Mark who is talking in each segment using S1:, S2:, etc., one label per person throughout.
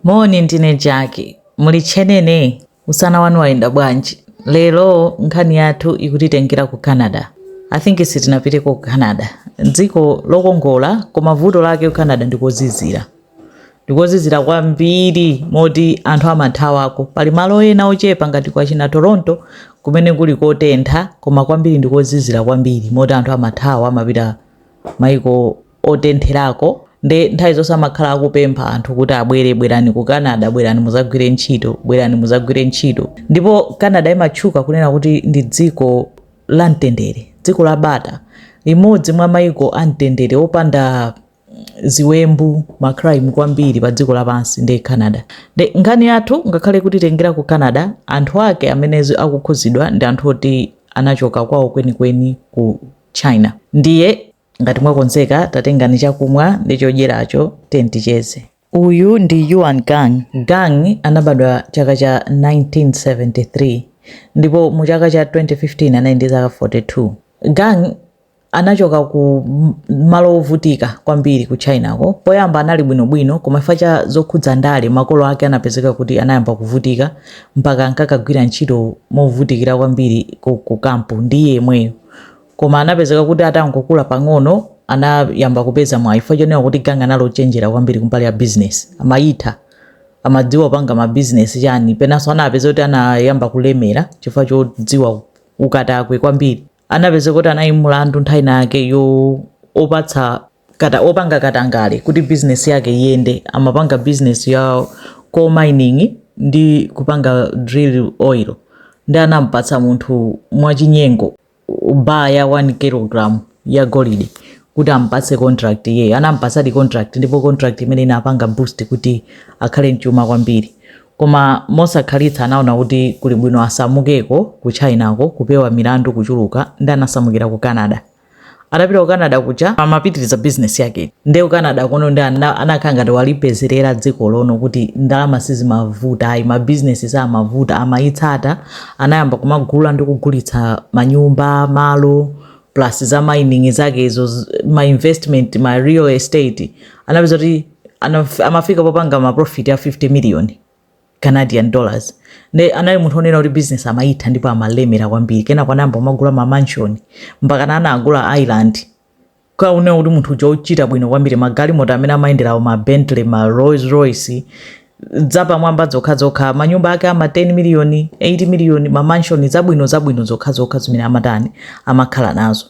S1: Moni ndine Jackie. Muli tchenene? Usana wanu wayenda bwanji? Lero nkhani yathu ikutitengera ku Canada. I think sitinapiteko ku Canada. Dziko lokongola koma vuto lake ku Canada ndikozizira. Ndikozizira kwambiri moti anthu amathawako. Pali malo ena ochepa ngati kwa china Toronto kumene kuli kotentha koma kwambiri ndikozizira kwambiri moti anthu amathawa amapita maiko otentherako nde nthawi zonse amakhala akupempha anthu kuti abwere bwerani ku canada bwerani muzagwire ntchito bwerani muzagwire ntchito ndipo canada imatchuka kunena kuti ndi dziko la mtendere dziko la bata limodzi mwa maiko a mtendere opanda ziwembu macrime kwambiri pa dziko lapansi ndi canada nde nkhani yathu ngakhale ikutitengera ku canada anthu ake amene zi- akukhudzidwa ndi anthu oti anachoka kwawo kwenikweni ku china ndiye Ngati mwakonzeka, tatengani chakumwa ndi chodyeracho, tiyeni ticheze. Uyu ndi Yuan Gang. Gang anabadwa chaka cha 1973 ndipo mu chaka cha 2015 anali ndi zaka 42. Gang anachoka ku malo ovutika kwambiri ku Chinako. Poyamba anali bwinobwino koma chifukwa cha zokhudza ndale makolo ake anapezeka kuti anayamba kuvutika mpaka ankakagwira ntchito movutikira kwambiri ku, ku kampu ndi iye yemweyo. Koma anapezeka kuti atangokula pang'ono anayamba kupeza mwayi chifukwa chonena kuti gang anali ochenjera kwambiri kumbali ya business amayitha amadziwa kupanga ma business chani penanso anapezeka kuti anayamba kulemera chifukwa chodziwa ukatakwe kwambiri anapezeka kuti anali ndi mlandu nthawi inayake yo opatsa kata opanga katangale kuti business yake iyende amapanga business ya coal mining ndi kupanga drill oil nde anampatsa munthu mwachinyengo bar ya 1 kilogram ya golide kuti ampatse contract iyeyo anampatsadi contract ndipo contract imeneyi inapanga boost kuti akhale mchuma kwambiri koma mosakhalitsa anaona kuti kuli bwino asamukeko ku chinako kupewa milandu kuchuluka nde anasamukira ku canada atapita ku canada kuja amapitiriza bizinesi yake nde ku canada kuno ndi ana- anakhala ngati walipezerera dziko lonena kuti ndalama sizimavuta ayi mabizinesi samavuta amayitsata Anayamba kumagula ndi kugulitsa manyumba, malo, plus za mining zake izo, z- ma investment, ma real estate. Anapezeka kuti anaf- amafika popanga ma profit a 50 million Canadian dollars. Nde anali munthu onena kuti business amayitha ndipo amalemera kwambiri. Kenako anayamba kumagula ma mansion mpakana anagula island Kunena kuti munthu uja ochita bwino kwambiri magalimoto amene amayenderawo ma Bentley ma Rolls Royce zapamwamba zokhazokha manyumba ake ama 10 million 8 million ma mansion zabwino zabwino zokhazokha zimene amatani amakhala nazo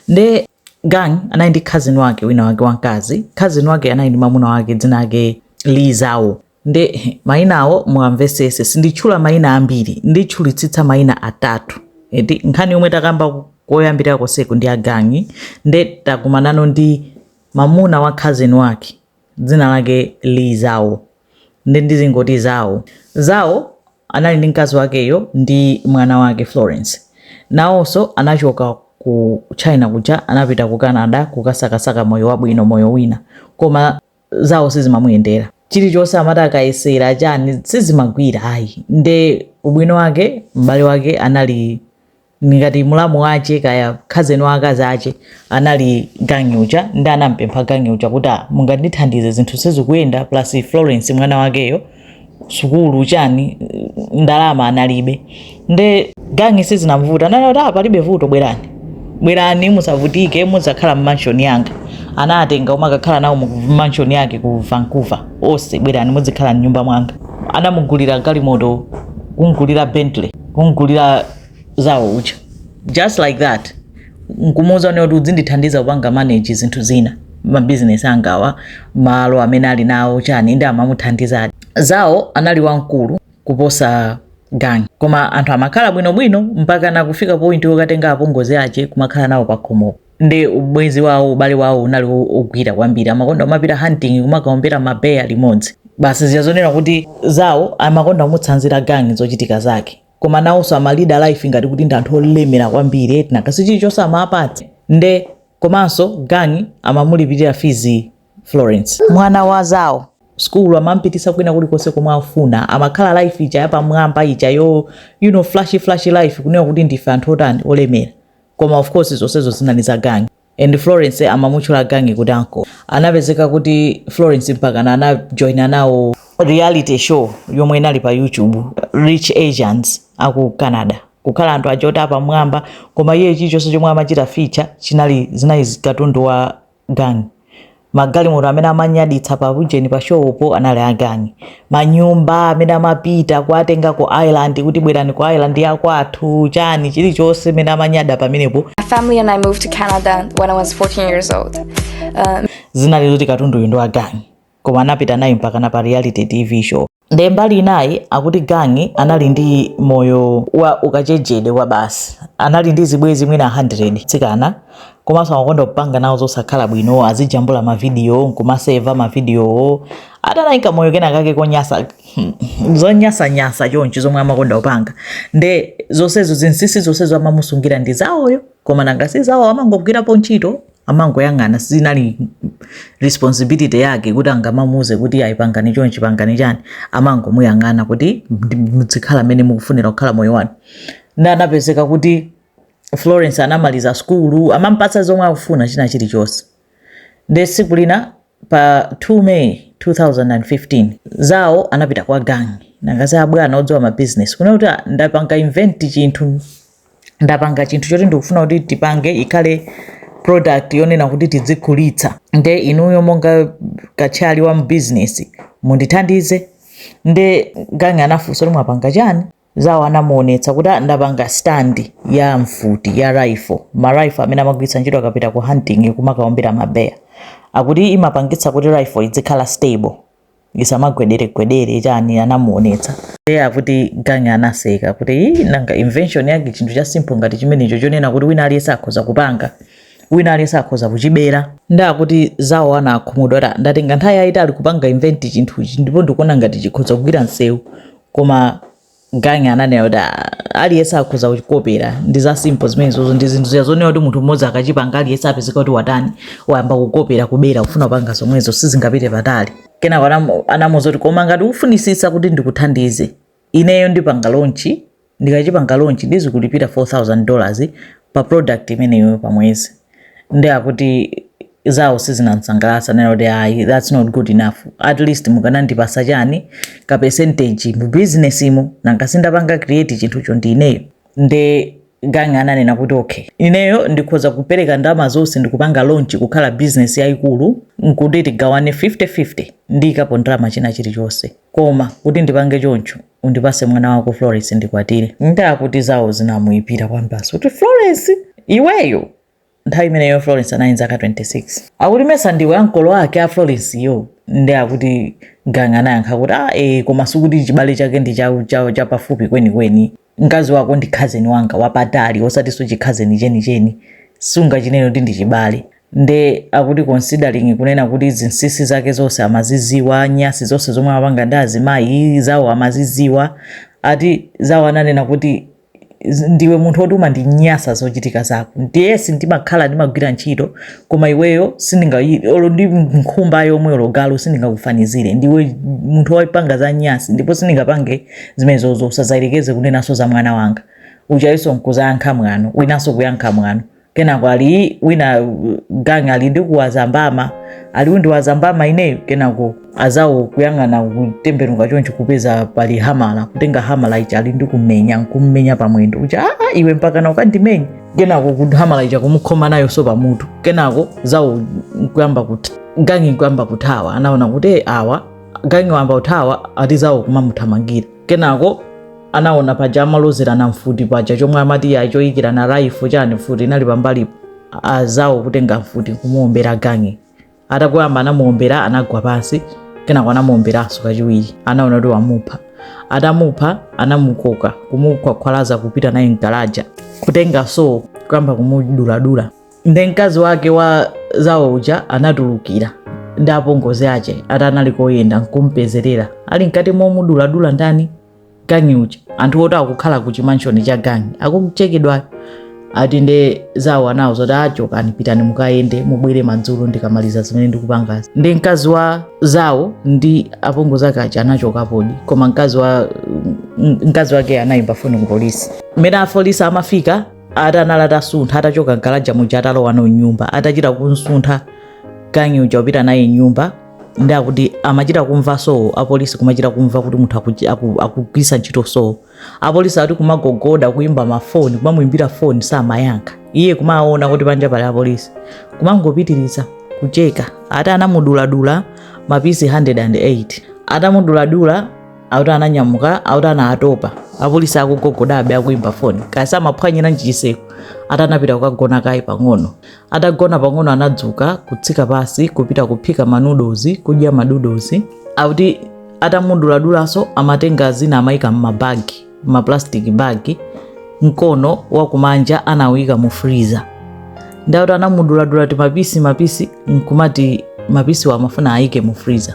S1: nde gang anali ndi cousin wake wina wake wamkazi cousin wake anali ndi mamuna wake dzina lake Li Zhao nde mayinawo muwamvesese sinditchula mayina ambiri nditchulitsitsa mayina atatu eti nkhani yomwe takamba koyambirira konseku ndi a gangi nde takumanano ndi mamuna wa cousin wake dzina lake li zhao nde ndizingoti zhao zhao anali ndi mkazi wakeyo ndi mwana wake florence nawonso anachoka ku china kuja anapita ku canada kukasakasaka moyo wabwino moyo wina koma zhao sizimamuyendera chilichonse amati akayesera chani sizimagwira ayi nde ubwino wake m'bale wake anali ngati mulamu wace kaya cousin wa akazi ace anali gangi uja ndi anampempha gangi uja kuti "Ah, mungandithandize zinthu sizikuyenda plus florence mwana wakeyo sukulu chani ndalama analibe nde gangi sizinamvuta anati palibe vuto bwerani bwerani musavutike mudzakhala m'mansion yanga anatenga kumakakhala nawo m'mansion yake ku vancouver onse bwerani mudzikhala mnyumba mwanga anamugulira galimoto kumugulira bentley kumugulira zhao uja just like that nkumuuza kunena kuti udzindithandiza kupanga manage zinthu zina mabizinesi angawa malo amene ali nawo chani ndi amamuthandizadi zhao anali wamkulu kuposa gang koma anthu amakhala bwinobwino mpakana kufika point yokatenga apongozi ache kumakhala nawo pakhomopo ndi ubwenzi wawo ubale wawo unali wo- wogwira kwambiri amakonda kumapita hunting kumakaombera ma bear limodzi basi ziyazonera kuti zhao amakonda kumutsanzira gang zochitika zake koma nawonso amalida life ngati kuti ndi anthu olemera kwambiri eti nanga si chilichonse amapatse nde komanso gangi amamulipirira fees florence mwana wa zhao sukulu amampititsa kwina kulikonse komwe afuna amakhala life ija yapamwamba ijayo you know flashy flashy life kunena kuti ndife anthu otani olemera koma of course zonsezo zinali za gangi and Florence amamutchula Gangi kuti uncle. Anapezeka kuti Florence mpakana anajoina nawo reality show yomwe inali pa YouTube Rich Asians aku Canada kukhala anthu aja oti apamwamba koma iye chilichonse chomwe amachita feature chinali zinali katundu wa Gangi. magalimoto amene amanyaditsa pa ujeni pa show po anali a gangi manyumba amene amapita kuatenga ku island kuti bwerani ku island yakwathu chani chilichonse amene amanyada pamenepo my family and I moved
S2: to Canada when I was 14 years old. Um,
S1: zinali zoti katunduyu ndi wa gangi koma anapita naye mpakana pa reality tv show Nde mbali inayi akuti gang anali ndi moyo wa ukachenjede kwabasi. Anali ndi zibwezi mwina 100 atsikana komanso amakonda kupanga nawo zosakhala bwino azijambula ma video nkumaseva ma video wo. Ati anali nkamoyo kenakake konyasa zonyasanyasa chonchi zomwe amakonda kupanga. Nde zonsezo zinsisi zonsezo amamusungira ndi Zhao yo koma nanga si Zhao amangogwirapo ntchito. amangoyang'ana sizinali responsibility yake kuti angamamuuze kuti ayi pangani chonchi pangani chani amangomuyang'ana kuti muzikhala mmene mukufunira kukhala moyo wanu nde anapezeka kuti florence anamaliza skulu amampatsa zomwe akufuna china chilichonse nde tsiku lina pa 2 may 2015 zawo anapita kwa gangi nanga sabwana odziwa mabizinesi kunena kuti "Ah, ndapanga invent chinthu ndapanga chinthu choti ndikufuna kuti tipange ikhale product yonena kuti tizigulitsa nde inuyo monga katchali wa bizinesi mundithandize nde gangi anafunsa kuti mwapanga chani zawo anamuonetsa kuti "Ah, ndapanga stand ya mfuti ya rifle ma rifle amene amagwiritsa ntchito akapita ku hunting kumakaombera mabeya akuti imapangitsa kuti rifle izikhala stable isamagwederegwedere chani anamuonetsa nde akuti gangi anaseka kuti "Ii, nanga invention yake chinthu cha simple ngati chimenecho chonena kuti wina aliyense akhoza kupanga wina aliyense akhoza kuchibera nde akuti zawo ana akhumudwa ati ndatenga nthawi yayitali kupanga invent chinthuchi ndipo ndikuona ngati chikhoza kugwira msewu koma gangi ananena kuti "Ah, aliyense akhoza kuchikopera ndi za simple zimenezozo ndi zinthu zija zonena kuti munthu mmodzi akachipanga aliyense apezeka kuti watani wayamba kukopera kubera kufuna kupanga zomwezo sizingapite patali kenako anamu- anamuuza kuti koma ngati ukufunisitsa kuti ndikuthandize ineyo ndipanga launch ndikachipanga launch ndizikulipira 4000 dollars pa product imeneyo pa mwezi nde akuti zawo sizinamsangalatse nena kuti ayi that's not good enough at least mukanandipasa chani ka percentage mu business imo nanga sindapanga create chinthucho ndi ineyo nde gangi ananena kuti okay ineyo ndikhoza kupereka ndalama zonse ndikupanga launch kukhala business yayikulu nkuti tigawane 50-50 ndiikapo ndalama china chilichonse koma kuti ndipange choncho undipase mwana wako Florence ndikwatire. Nde akuti zawo zinamuipira kwabasi kuti Florence iweyo nthawi imeneyo Florence anali nzaka 26 akuti mesa ndiwe ankolo ake a Florence yo nde akuti gangi anayankha kuti ah eh koma sikuti chibale chake ndi cha cha chapafupi kwenikweni mkazi wako ndi khazeni wanga wapatali osatinso chikhazeni chenicheni sungachinene kuti ndi chibale nde akuti considering kunena kuti zinsisi zake zonse amaziziwa nyasi zonse zomwe amapanga ndi azimayi zawo amaziziwa ati zawo ananena kuti ndiwe munthu woti umandinyasa zochitika zako yes ndimakhala ndimagwira ntchito koma iweyo sindinga olo ndi nkhumba yomwe olo galu sindingakufanizire ndiwe munthu wopanga za nyasi ndipo sindingapange zimenezozo usazayerekeze kunenaso za mwana wanga ukayesa nkuzayankha mwano winanso kuyankha mwano kenako ali wina gang alindikuwaza mbama ali undiwaza mbama ineyo kenako azawo kuyang'ana kutembenuka choncho kupeza pali hamala kutenga hamala ija alindikumenya nkummenya pamwendo kuti aa iwe mpaka ukandimenya kenako kuti hamala ija kumukhoma nayo so pa mutu kenako zawo nkuyamba kuti gangi nkuyamba kuthawa anaona kuti "Eh, awa gangi wamba uthawa ati zawo kumamuthamangira Kenako anaona paja amalozerana mfuti paja chomwe amati ya choyikira rifle chani mfuti inali pambalipo azawo kutenga mfuti kumuombera gangi atangoyamba anamuombera anagwa pansi kenako anamuomberanso kachiwiri anaona kuti wamupha atamupha anamukoka kumukhwakhwalaza kupita naye mu galaja kutenga so kuyamba kumuduladula nde mkazi wake wa zawo uja anatulukira ndi apongozi ake ati anali koyenda nkumpezerera ali mkati momuduladula ndani gangi uja anthu oti akukhala ku chimanshoni cha gangi akuchekedwayo ati nde zawo anawauza kuti chokani pitani mukayende mubwere madzulo ndikamaliza zimene ndikupangazi nde mkazi wa zawo ndi apongozi ake aja anachokapodi koma mkazi wa m- mkazi wake anayimba foni ku polisi mmene apolisi amafika ati anali atasuntha atachoka mgalaja muja atalowa nawo mnyumba atachita kumsuntha gangi uja upita naye mnyumba nde akuti amachita kumva so apolisi kumachita kumva kuti munthu akuchi- aku- akugwiritsa ntchito so apolisi ati kumagogoda kuimba mafoni kumamuimbira foni samayankha iye kumaona kuti panja pali apolisi kumangopitiriza kucheka ati anamuduladula mapisi 108 atamuduladula akuti ananyamuka akuti anatopa apolisi akugogodabe akuimba foni kaya samaphwanyira nji chitseko ati anapita kukagona kaye pang'ono atagona pang'ono anadzuka kutsika pansi kupita kuphika manudozi kudya manudozi akuti atamuduladulanso amatenga zina amayika m'mabagi ma plastic bag mkono wakumanja anawuyika mu freezer nde akuti anamuduladula timapisi mapisi nkumati mapisiwa amafuna ayike mu freezer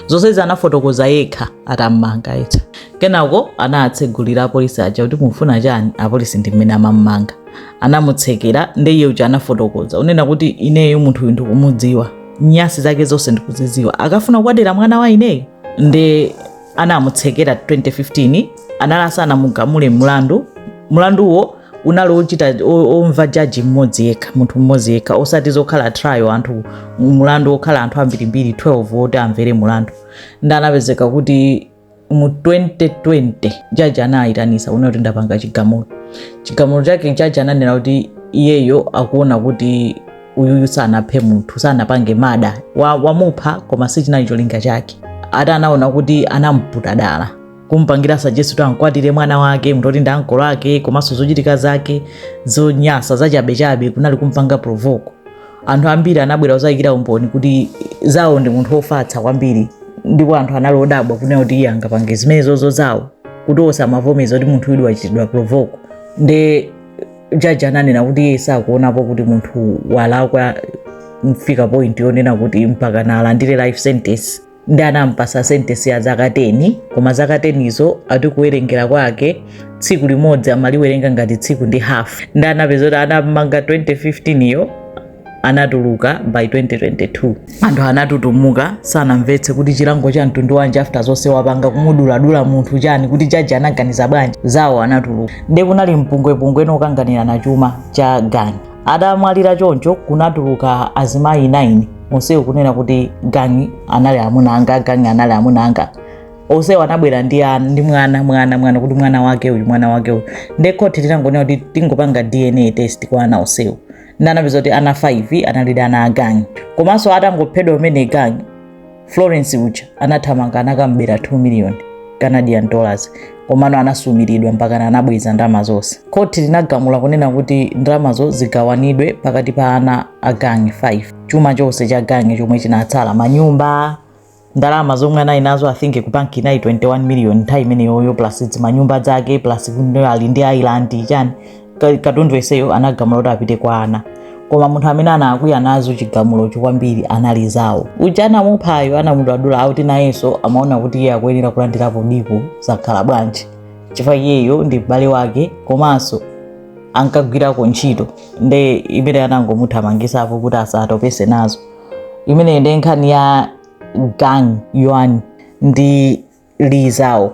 S1: zonsezi anafotokoza yekha atammanga eti kenako anatsegulira apolisi aja kuti mufuna chani apolisi ndi mmene amammanga anamutsekera ndiye uja anafotokoza unena kuti ineyo munthuyu ndikumudziwa nyasi zake zonse ndikuzidziwa akafuna kukwatira mwana wa ineyo ndi anamutsekera 2015 anali asanamugamule mlandu mlanduwo unali ochita o- omva jaji mmodzi yekha munthu mmodzi yekha osati zokhala trial anthu mulandu okhala anthu ambirimbiri 12 oti amvere mulandu nde anapezeka kuti mu 2020 jaji anayitanitsa kunena kuti ndapanga chigamulo chigamulo chake jaji ananena kuti iyeyo akuona kuti uyuyu sanaphe munthu sanapange murder wamupha koma sichinali cholinga chake ati anaona kuti anamputa dala kumpangira suggest kuti ankwatire mwana wake munthu oti ndi ankolo ake komanso zochitika zake zonyasa zachabechabe kunali kumpanga provoke anthu ambiri anabwera kuzayikira umboni kuti zao ndi munthu wofatsa kwambiri ndipo anthu anali odabwa kunena kuti iye angapange zimenezozo zao kuti osamavomeza kuti munthu uyu wachitidwa provoke nde jaji ananena kuti iye sakuonapo kuti munthu walakwa mofika point yonena kuti mpakana alandire life sentence ndi anampasa sentence ya zaka 10 koma zaka 10 izo ati kuwerengera kwake tsiku limodzi amaliwerenga ngati tsiku ndi half ndi anapeza kuti anamanga 2015 yo anatuluka by 2022 anthu anatutumuka sanamvetse kuti chilango cha mtundu wanji after zonse wapanga kumuduladula munthu chani kuti jaji anaganiza bwanji zao anatuluka nde kunali mpungwepungwe wokanganirana chuma cha gang adamwalira choncho kunatuluka azimayi 9 onsewo kunena kuti gang anali amuna anga gang anali amuna anga onsewo anabwera ndi ana ndi mwana mwana mwana kuti mwana wake uyu mwana wake uyu nde khoti linangonena kuti tingopanga dna test kwa ana onsewo ndi anapeza kuti ana 5 analidi ana a gang komanso atangophedwa kumene gang florence uja anathamanga anakam'bera 2 miliyoni canadian dollars komano anasumiridwa mpakana anabweza ndalama zonse khoti linagamula kunena kuti ndalamazo zigawanidwe pakati pa ana a gang 5 chuma chonse cha gang chomwe chinatsala manyumba ndalama zomwe anali nazo i think ku bank inali 21 million nthawi imeneyoyo plus zimanyumba zake plus kuno ali ndi island chani Ka- katundu yeseyo anagamula kuti apite kwa ana koma munthu amene anakwiya nazo chigamulocho kwambiri anali zao uja anamuphayo anamuduladula akuti nayenso amaona kuti iye akuyenera kulandirapo ndipo zakhala bwanji chifukwa iyeyo ndi m'bale wake komanso ankagwirako ntchito nde imene anangomuthamangisapo kuti asatopese nazo imeneyo ndi nkhani ya gang yuan ndi li zao